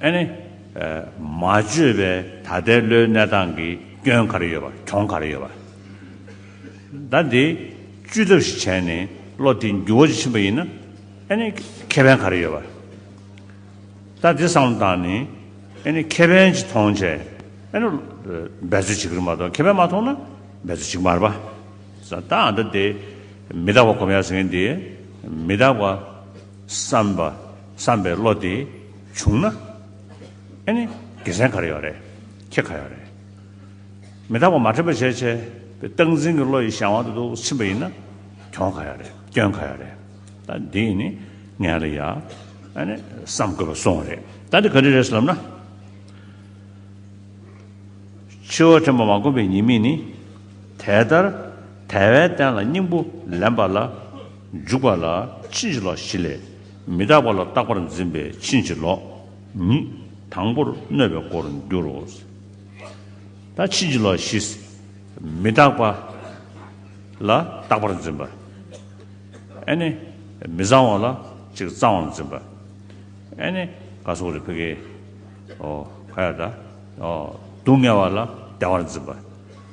ཨ་ནི། མ་བཅོས་པའི་ད་ལྟའི་བློའི་གནས་སྟངས་ཀྱི་སྐྱོན་ག་རེ་ཡོད་པ་གྱོང་ག་རེ་ཡོད་པ། ད་འདི་བཅོས་ཐབས་ཤིག་བྱས་ནས་བློ་དེ་འགྱུར་བ་ཕྱིན་པ་ཡིན་ན་ཨ་ནི་ཁེ་ཕན་ག་རེ་ཡོད་པ། ད་འདི་བསམ་བློ་བཏང་ནས་ཨ་ནི་ཁེ་ཕན་གྱི་མཐོང་བྱས་ཨ་ནི་འབད་རྩོལ་བྱེད་ཀྱི་མ་གཏོགས་ཁེ་ཕན་མ་མཐོང་ན་འབད་རྩོལ་བྱེད་ཀྱི་མ་རེད་པ། ད་འདི་མི་རྟག་པ་གོམས་ཡ་ཟེར་མཁན་འདི་མི་རྟག་པ། བསམ་པ་བསམ་པའི་བློ་དེ་བྱུང་ན། ཨེ་ནི་དགེ་མཚན་ག་རེ་ཡོད་རེད། ཁྱེད་ག་ཡོད་རེད། མི་རྟག་པ་མ་འཕྲད་པ་བྱས་བྱས་པའི་སྟངས་འཛིན་གྱི་བློ་ཡི་གཞན་དབང་དུ་དུ་ཕྱིན་པ་ཡིན་ན། གྱོང་ག་ཡོད་རེད་སྐྱོན་ག་ཡོད་རེད། ད་འདི་ནི་ངའི་ལ་ཡ། ཨེ་ནི་བསམ་དགོས་པ་སོང་རེད། ད་འདི་ག་རེ་རེད་ལབ་ན། ཕྱི་བ་དྲན་པ་མ་གོམས་པའི་ཉེས་དམིགས་ནི། དེ་ལྟར་དལ་བའི་རྟེན་ལ་སྙིང་པོ་ལེན་པ་ལ། འཇུག་པ་ལ་ཕྱིན་ཅི་ལོག་བཞི་ལས། མི་རྟག་པ་ལ་རྟག་པར་འཛིན་པས་ཕྱིན་ཅི་ལོག་ཉིད། དང་པོར་གནོད་པའི་སྒོར་འགྱུར་རོ། ད་ཕྱིན་ཅི་ལོག་བཞི། མི་རྟག་པ་ལ་རྟག་པར་འཛིན་པ། ཨེ་ནི། མི་གཙང་བ་ལ་གཅིག་གཙང་བར་འཛིན་པ། ཨེ་ནི། ག་སོགས་རེ་ཕི་ཀའི། ཨོ། ག་ཡ་དཱ། སྡུག་བསྔལ་བ་ལ་བདེ་བར་འཛིན་པ།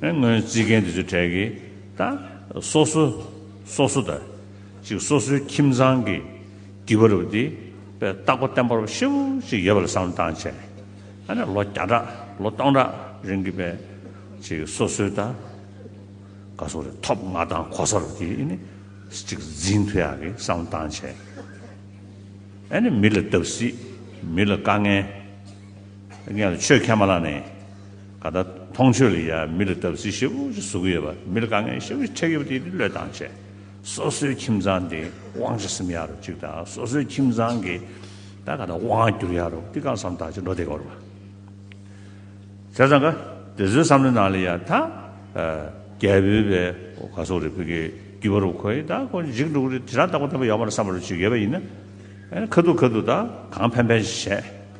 སྔོན་རྩིས་མཁན་དེ་ཚོའི་གྲས་ཀྱི་ད། སོ་སོ། སོ་སོ་ད། ཅིག་སོ་སོའི་ཁྱིམ་ཚང་གི། བགྱི་བ་རུ་དེ། པའི་རྟག་པ་བརྟན་པོར་ཧྲིལ་བོ་ཅིག་ཡོད་པ་ལ་བསམ་བློ་བཏང་བྱས། ཨ་ནས་ལོ་བརྒྱ་ཕྲག་ལོ་སྟོང་ཕྲག་རིང་གི་པའི། ཅིག་སོ་སོའི་ད། ག་སོ་རེ་ཐོབ་མངའ་ཐང་གོ་ས་རུ་དེ་ནི། ཅིག་འཛིན་ཐུ་ཡག་གི་བསམ་བློ་བཏང་བྱས། ཨ་ནས་མི་ལ་བརྡབ་གསིག། མི་ལ་དཀའ་ངལ། ངལ་ལ་ཆོས་ཁས་མ་བླངས་ནས། ད་ལྟ་མཐོང་ཆོས་ལ་ཡང་མི་ལ་སྟབས་བསིལ་ཞེ་པོ་ཞིག་བཟོ་གི་ཡོད་པ་མི་ལ་དཀའ་ངལ་ཞེ་པོ་ཞིག་འཕྲད་ཡོད་པ་དེ་ནི་བློས་བཏང་བྱས་སོ་སོའི་ཁྱིམ་ཚང་དེ་དབང་ཆ་སིམ་ཡག་རོ་ཅིག་དང་སོ་སོའི་ཁྱིམ་ཚང་གི་ད་ག་ད་དབང་བསྒྱུར་ཡག་རོ་ཏི་གང་བསམ་ད་ཅི་འགྲོ་དེ་ག་རོ་བ་བྱས་ཙང་ག་དེ་ཚོའི་བསམ་བློའི་ནང་ལ་ཡང་ད་རྒྱལ་པོའི་བའི་ག་སོག་རེད་བོད་ཀྱི་རྒྱུད་པ་རུ་ཁོ་ཡི་ད་ཁོ་འཇིག་འགྲོ་གི་རེད་དེ་རང་ལྟ་བུ་ལྟ་བུ་ཡག་པོ་ར་བསམ་པ་རུ་ཅིག་ཡོད་པ་ཡིན་ན་ཁ་ཐུག་ཁ་ཐུག་ད་གང་ཕན་ཕན་ཞིག་བྱས།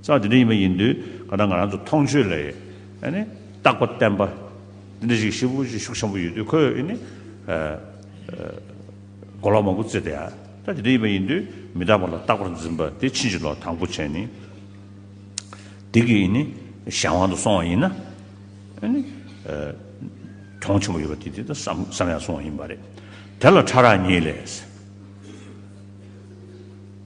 རྩ་བ་དེ་འདྲ་ཡིན་པ་ཡིན་དུས་ང་རང་ང་རང་ཚོ་མཐོང་ཆོས་ལ་རྟག་པ་བརྟན་པ་འདི་འདྲ་ཞིག་ཤི་བོ་ཆེ་ཤུགས་ཆེན་པོ་ཡོད་དུས་ཁོས་གོ་ལག་མང་པོ་བཙལ་ཏེ་རྩ་དེ་འདྲ་ཡིན་པ་ཡིན་དུས་མི་རྟག་པ་ལ་རྟག་པར་འཛིན་པ་དེ་ཕྱིན་ཅི་ལོག་དང་པོ་བྱས་ནས་སྡིག་གི་གཞན་དབང་དུ་སོང་བ་ཡིན་ན། གྱོང་ཆེན་པོ་ཡོད་པ་དེ་དེ་ལྟར་བསམ་ཡང་སོང་བ་ཡིན་པ་རེད། དེ་ལ་ཕྲ་རགས་གཉིས་ལས།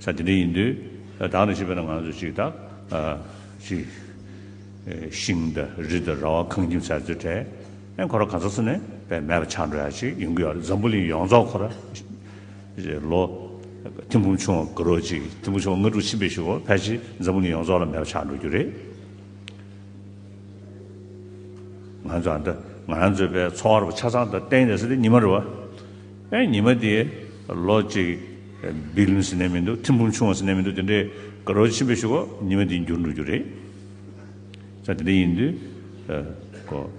ས་དེ་འདྲ་ཡིན་དུས་བདག་ལ་བྱིས་པ་ན་ང་ཚོ་ཅིག་དང། ཅིག། ཤིང་དང་རི་དང་ར་བ་ཁང་ཁྱིམ་ཟས་ཚོད་བྲལ། ཨེ་ཁོ་ར་ག་ཚོད་ཚོད་ནས་བས་མེད་པ་ཆགས་འགྲོ་ཡ་ཅིག་ཡིན་གི་ཡོད་རེད་འཛམ་བུ་གླིང་ཡོངས་རྫོགས་ཁོ་ར། ལོ། ཐིམ་འབུམ་ཆུང་བ་དགུ་རོ་ཅིག་ཐིམ་འབུམ་ཆུང་བ་ལྔ་དྲུག་ཕྱིན་པའི་ཞིག་གོ་ཕལ་ཆེར་འཛམ་བུ་གླིང་ཡོངས་རྫོགས་ལ་མེད་པ་ཆགས་འགྲོ་རྒྱུ་རེད། ང་ཚོ་ཨ་མདའ་ང་རང་ཚོའི་བས་འཚོ་བ་ར་བ་ཆ་ཚང་དང་གཏན་ནས་སོ་དེ་ཉི་མ་རེད་བ། ཨེ་ཉི་མ་དེ་ལོ་གཅིག་སྦིར་ལུན་སི་ནས་མི་འདུག་ཐིམ་འབུམ་ཆུང་བ་སི་ནས་མི་འདུག་དེ་འདྲའི་དགའ་རོགས་ཆེན་པོས་ཞུ་གོ་ཉི་མ་དེ་འགྱུར་འགྲོ་རྒྱུ་རེད། ད་དེ་འདྲ་ཡིན་དུས་གོ།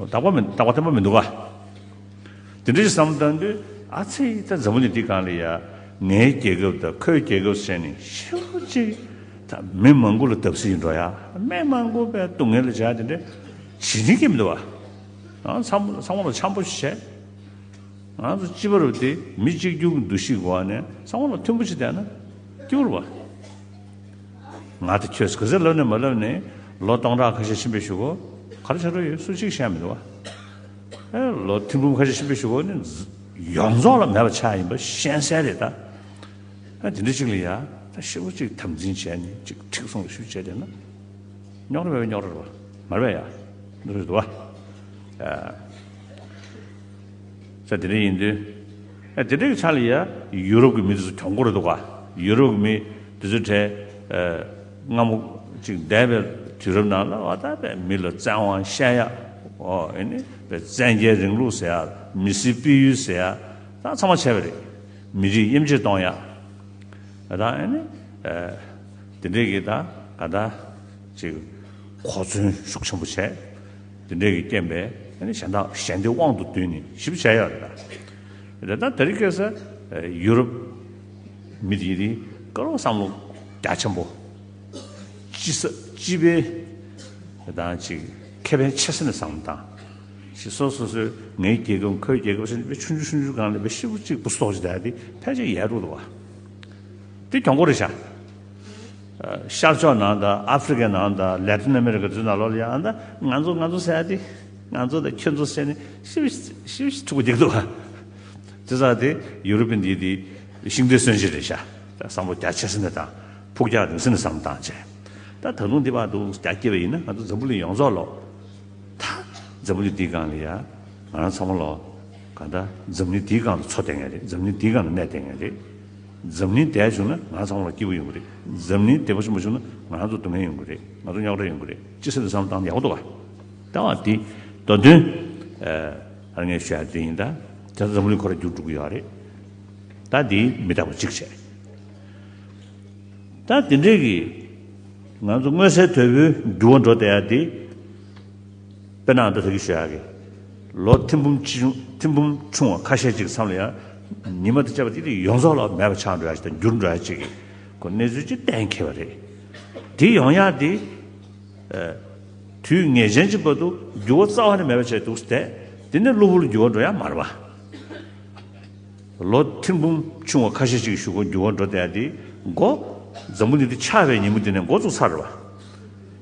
རྟག་པ་མི་རྟག་པ་ཐེམ་པ་མི་འདུག་ག། དེ་འདྲ་ཞིག་བསམ་བཏང་དུས་ཨ་ཚེ་ད་འཛམ་བུ་ནི་འདི་གང་ལ་ཡ། ངའི་རྒྱལ་ཁབ་དང་ཁོའི་རྒྱལ་ཁབ་བསྲེས་ནས་ཤི་རོ་ཅིག། ད་མི་མང་པོ་ལ་བརྡབ་གསིག་ཡིན་འགྲོ་ཡ། མི་མང་པོ་བས་སྡུག་བསྔལ་ལ་བྱ་དེ་འདྲ་བྱེད་ཀྱིན་མི་འདུག་ག། ཚང་མ་ལ་འཆམ་པོ་བྱེད། ང་ཚོ་སྤྱི་པ་རུ་དེ་མི་གཅིག་གྱུར་གྱི་འདུ་ཤེས་ཀྱི་འོག་ནས་ཚང་མ་ལ་མཐུན་པོ་བྱེད་བསྡད་ན་སྐྱིད་པོ་རུ་བ། ང་དང་ཁྱོད་ག་ཚད་ལབ་ནས་མ་ལབ་ནས་ལོ་སྟོང་ཕྲག་ཁ་ཤས་ཕྱིན་པའི་ཞོག་གོ་གར་ཆགས་འགྲོ་ཡོད་སུ་གཅིག་བཤད་མི་འདུག་བ། ཨེ་ལོ་ཐིམ་འབུམ་ཁ་ཤས་ཕྱིན་པའི་ཞོག་གོ་ནི་ཡོངས་རྫོགས་ལ་མེད་པ་ཆགས་ཡིན་པ་གཤེན་གསལ་རེད་ད། ཨེ་དེ་འདྲ་གཅིག་ལ་ཡ་ད་ཤི་བོ་གཅིག་དམ་འཛིན་བྱས་ནས་གཅིག་ཁྲིག་སྲུང་ལ་ཞུ་བྱས་བསྡད་ན་རྙོག་དྲ་བས་རྙོག་དྲ་རུ་བ། མར་བས་ཡ་རུ་བ། ས་དེ་འདྲ་ཡིན་དུས། ཨ་དེ་འདྲ་གི་ཆ་ལ་ཡ། ཡུ་རོབ་ཀྱི་མི་དེ་ཚོ་གྱོང་གོར་འདུག་ག། ཡུ་རོབ་ཀྱི་མི་དེ་ཚོའི་གྲས། སྔ་མོ་ཅིག་འདས་པའི་དུས་རབས་ནང་ལ་ཨ་ད་པའི་མི་ལ་བཙན་དབང་བཤད་ཡ། ཨིནི། བཙན་རྒྱལ་རིང་ལུགས་ཟེར་ཡ། མི་སེར་སྤེལ་ཡུལ་ཟེར་ཡ། ད་ཚང་མ་བྱས་པ་རེད། མི་རིགས་དབྱེ་འབྱེད་གཏོང་ཡ། ད་ཨིནི། དེ་འདྲས་ཀྱི་ད་ག་ད། ཅིག། གོ་མཚོན་ཤུགས་ཆེན་པོ་བྱས། དེ་འབྲས་ཀྱི་རྐྱེན་པས་གཞན་དག་གཞན་སྡེའི་དབང་དུ་བསྡུས་ནས་ཞིབ་བྱ་ཡག་རེད་ད། རེད་ད་དེ་རིགས་སྐད་ས་ཡུ་རོབ་མི་དེ་རིགས་དཀར་བོ་བསམ་བློ་རྒྱ་ཆེན་པོ། སྤྱི་ས་སྤྱི་པའི་རེད་ད་ཅིག་ཁེ་ཕན་ཆེ་ས་ནས་བསམ་བློ་བཏང། ཞིག་སོ་སོ་སོས་ངའི་རྒྱལ་ཁབ་ཁོའི་རྒྱལ་ཁབ་སེམས་ཅན་ཆུང་ཆུང་ཆུང་ཆུང་གང་ལས་པའི་ཤི་བོ་གཅིག་པུ་སོགས་ཀྱི་དེ་ཕལ་ཆེར་ཡལ་འགྲོ་འདུག་བ། དེ་གྱོང་གོ་རེ་བྱ། ཤར་ཕྱོགས་ནང་དང་ཨ་ཧྥེ་རི་ཁའི་ནང་དང་ལེ་ཏིན་ཨ་མེ་རི་ཁའི་འཛུལ་ནང་ལོགས་ལ་ཡང་ང་ཚོ་ང་ཚོ་ཟེར་ཏེ་ང་ཚོ་དང་ཁྱོད་ཚོ་ཟེར་ནས་ཤི་བ་ཤི་བ་ཕྲུ་གུ་འདེགས་འདུག་དེ་ཚ་དེ་ཡུ་རོབ་པའི་འདི་དེ་ཤིང་རྟའི་སྲོལ་འབྱེད་རེད་ཤ་ད་བསམ་བློ་རྒྱ་ཆེ་ས་ནས་དང་ཕུགས་རྒྱ་རིང་ས་ནས་བསམ་བཏང་བྱས་ད་ད་ལུང་འདི་བར་འདུག་རྒྱ་སྐྱེ་བ་ཡིན་ན་ང་ཚོ་འཛམ་བུ་གླིང་ཡོངས་རྫོགས་ལོག་ད་འཛམ་བུ་གླིང་འདིའི་སྒང་ལ་ཡ་ང་རང་ཚང་མ་ལོག་ག་ད་འཛམ་བུ་གླིང་འདིའི་སྒང་དུ་འཚོ་བསྡད་ངེས་རེད་འཛམ་བུ་གླིང་འདིའི་སྒང་ལ་གནས་བསྡད་ངེས་རེད། འཛམ་གླིང་བདེ་བྱུང་ན་ང་ཚང་བར་སྐྱིད་པོ་ཡོང་གི་རེད་འཛམ་གླིང་བདེ་བྱུང་མ་བྱུང་ན་ང་ཚོ་སྡུག་བསྔལ་ཡོང་གི་རེད་ང་ཚོ་རྙོག་དྲ་ཡོང་གི་རེད་ཅི་ཟེར་འདི་བསམ་སྟངས་ཡག་པོ་འདུག་ག་ད་བར་དེ་དོན་དོན་ཨ་ངས་ཤོད་ཡ་དེ་ཡིན་ད་དེ་འཛམ་གླིང་ཁོ་ར་རྒྱུག་འགྲོ་གི་ཡོད་རེད་ད་དེ་མི་དྲག་པ་གཅིག་བྱས་ད་དེ་འདྲས་གི་ང་ཚོ་དངོས་གསལ་དོད་པོའི་འགྱུར་བ་འགྲོ་བསྡད་ཡ་དེ། དཔེར་ན་འདི་ལྟ་བུའི་ཞོལ་གྱི་ལོ་ཐེམ་འབུམ་ཆུང་བ་ཁ་ཤས་ཅིག་མཚམས་ལ་ཡང་ཉི་མ་དང་བཅས་པ་དེ་དུས་ཡོངས་རྫོགས་ལ་མེད་པ་ཆགས་འགྲོ་ཡ་ཅིག་དང་འགྱུར་འགྲོ་ཡ་ཅིག་གི་གནས་ཚུལ་ཅིག་གཏན་འཁེལ་བ་རེད། དེ་ཡོང་ཡ་དེ། དུས་ངེས་ཅན་གྱི་བར་དུ་འགྱུར་བ་རྩ་བ་ནས་མེད་པ་བྱས་འདུག་ཟེར་ཏེ་དེ་ནས་གློ་བུར་འགྱུར་བ་འགྲོ་ཡ་མ་རེད་པ། ལོ་ཐེམ་འབུམ་ཆུང་བ་ཁ་ཤས་ཅིག་བཞུགས་སྐོར་འགྱུར་བ་འགྲོ་བསྡད་ཡ་དེའི་མགོ། འཛམ་བུ་འདི་དུས་ཆགས་པའི་ཉིན་མོ་དེ་ནས་མགོ་བཙུགས་ཚར་རེད་པ།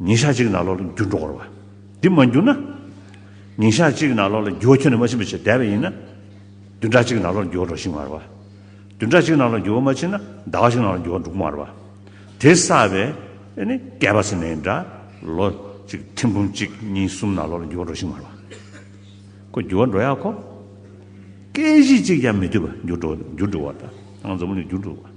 ཉིན་ཞག་གཅིག་ན་ལོག་ལ་འགྱུར་འགྲོ་བར་བ། འདི་མ་འགྱུར་ན། ཉིན་ཞག་གཅིག་ན་ལོག་ལ་འགྱུར་བ་ཁྱོད་ནི་མ་ཕྱིན་པའི་ཕྱིར་དད་པ་ཡིན་ན། བདུན་ཕྲག་གཅིག་ན་ལོག་ལ་འགྱུར་བ་རོ་ཤིང་མར་བ། བདུན་ཕྲག་གཅིག་ན་ལོག་ལ་འགྱུར་བ་མ་ཕྱིན་ན་ཟླ་བ་གཅིག་ན་ལོག་ལ་འགྱུར་བ་འབྲུག་མར་བ། དེ་ས་བའི། ནི། བསྐལ་པ་སེར་སྣའི་འདྲ། ལོ། གཅིག་ཐུན་འབུམ་གཅིག་གཉིས་གསུམ་ན་ལོག་ལ་འགྱུར་བ་རོ་ཤིང་མར་བ། ཀོ། འགྱུར་བ་འགྲོ་ཡག་གོ། སྐད་གཞི་གཅིག་ཀྱང་མི་སྡུད་པ་འགྱུར་འགྲོ་འགྱུར་འགྲོ་བ་དང། འཛམ་བུ་ནི་འགྱུར་འགྲོ་བ།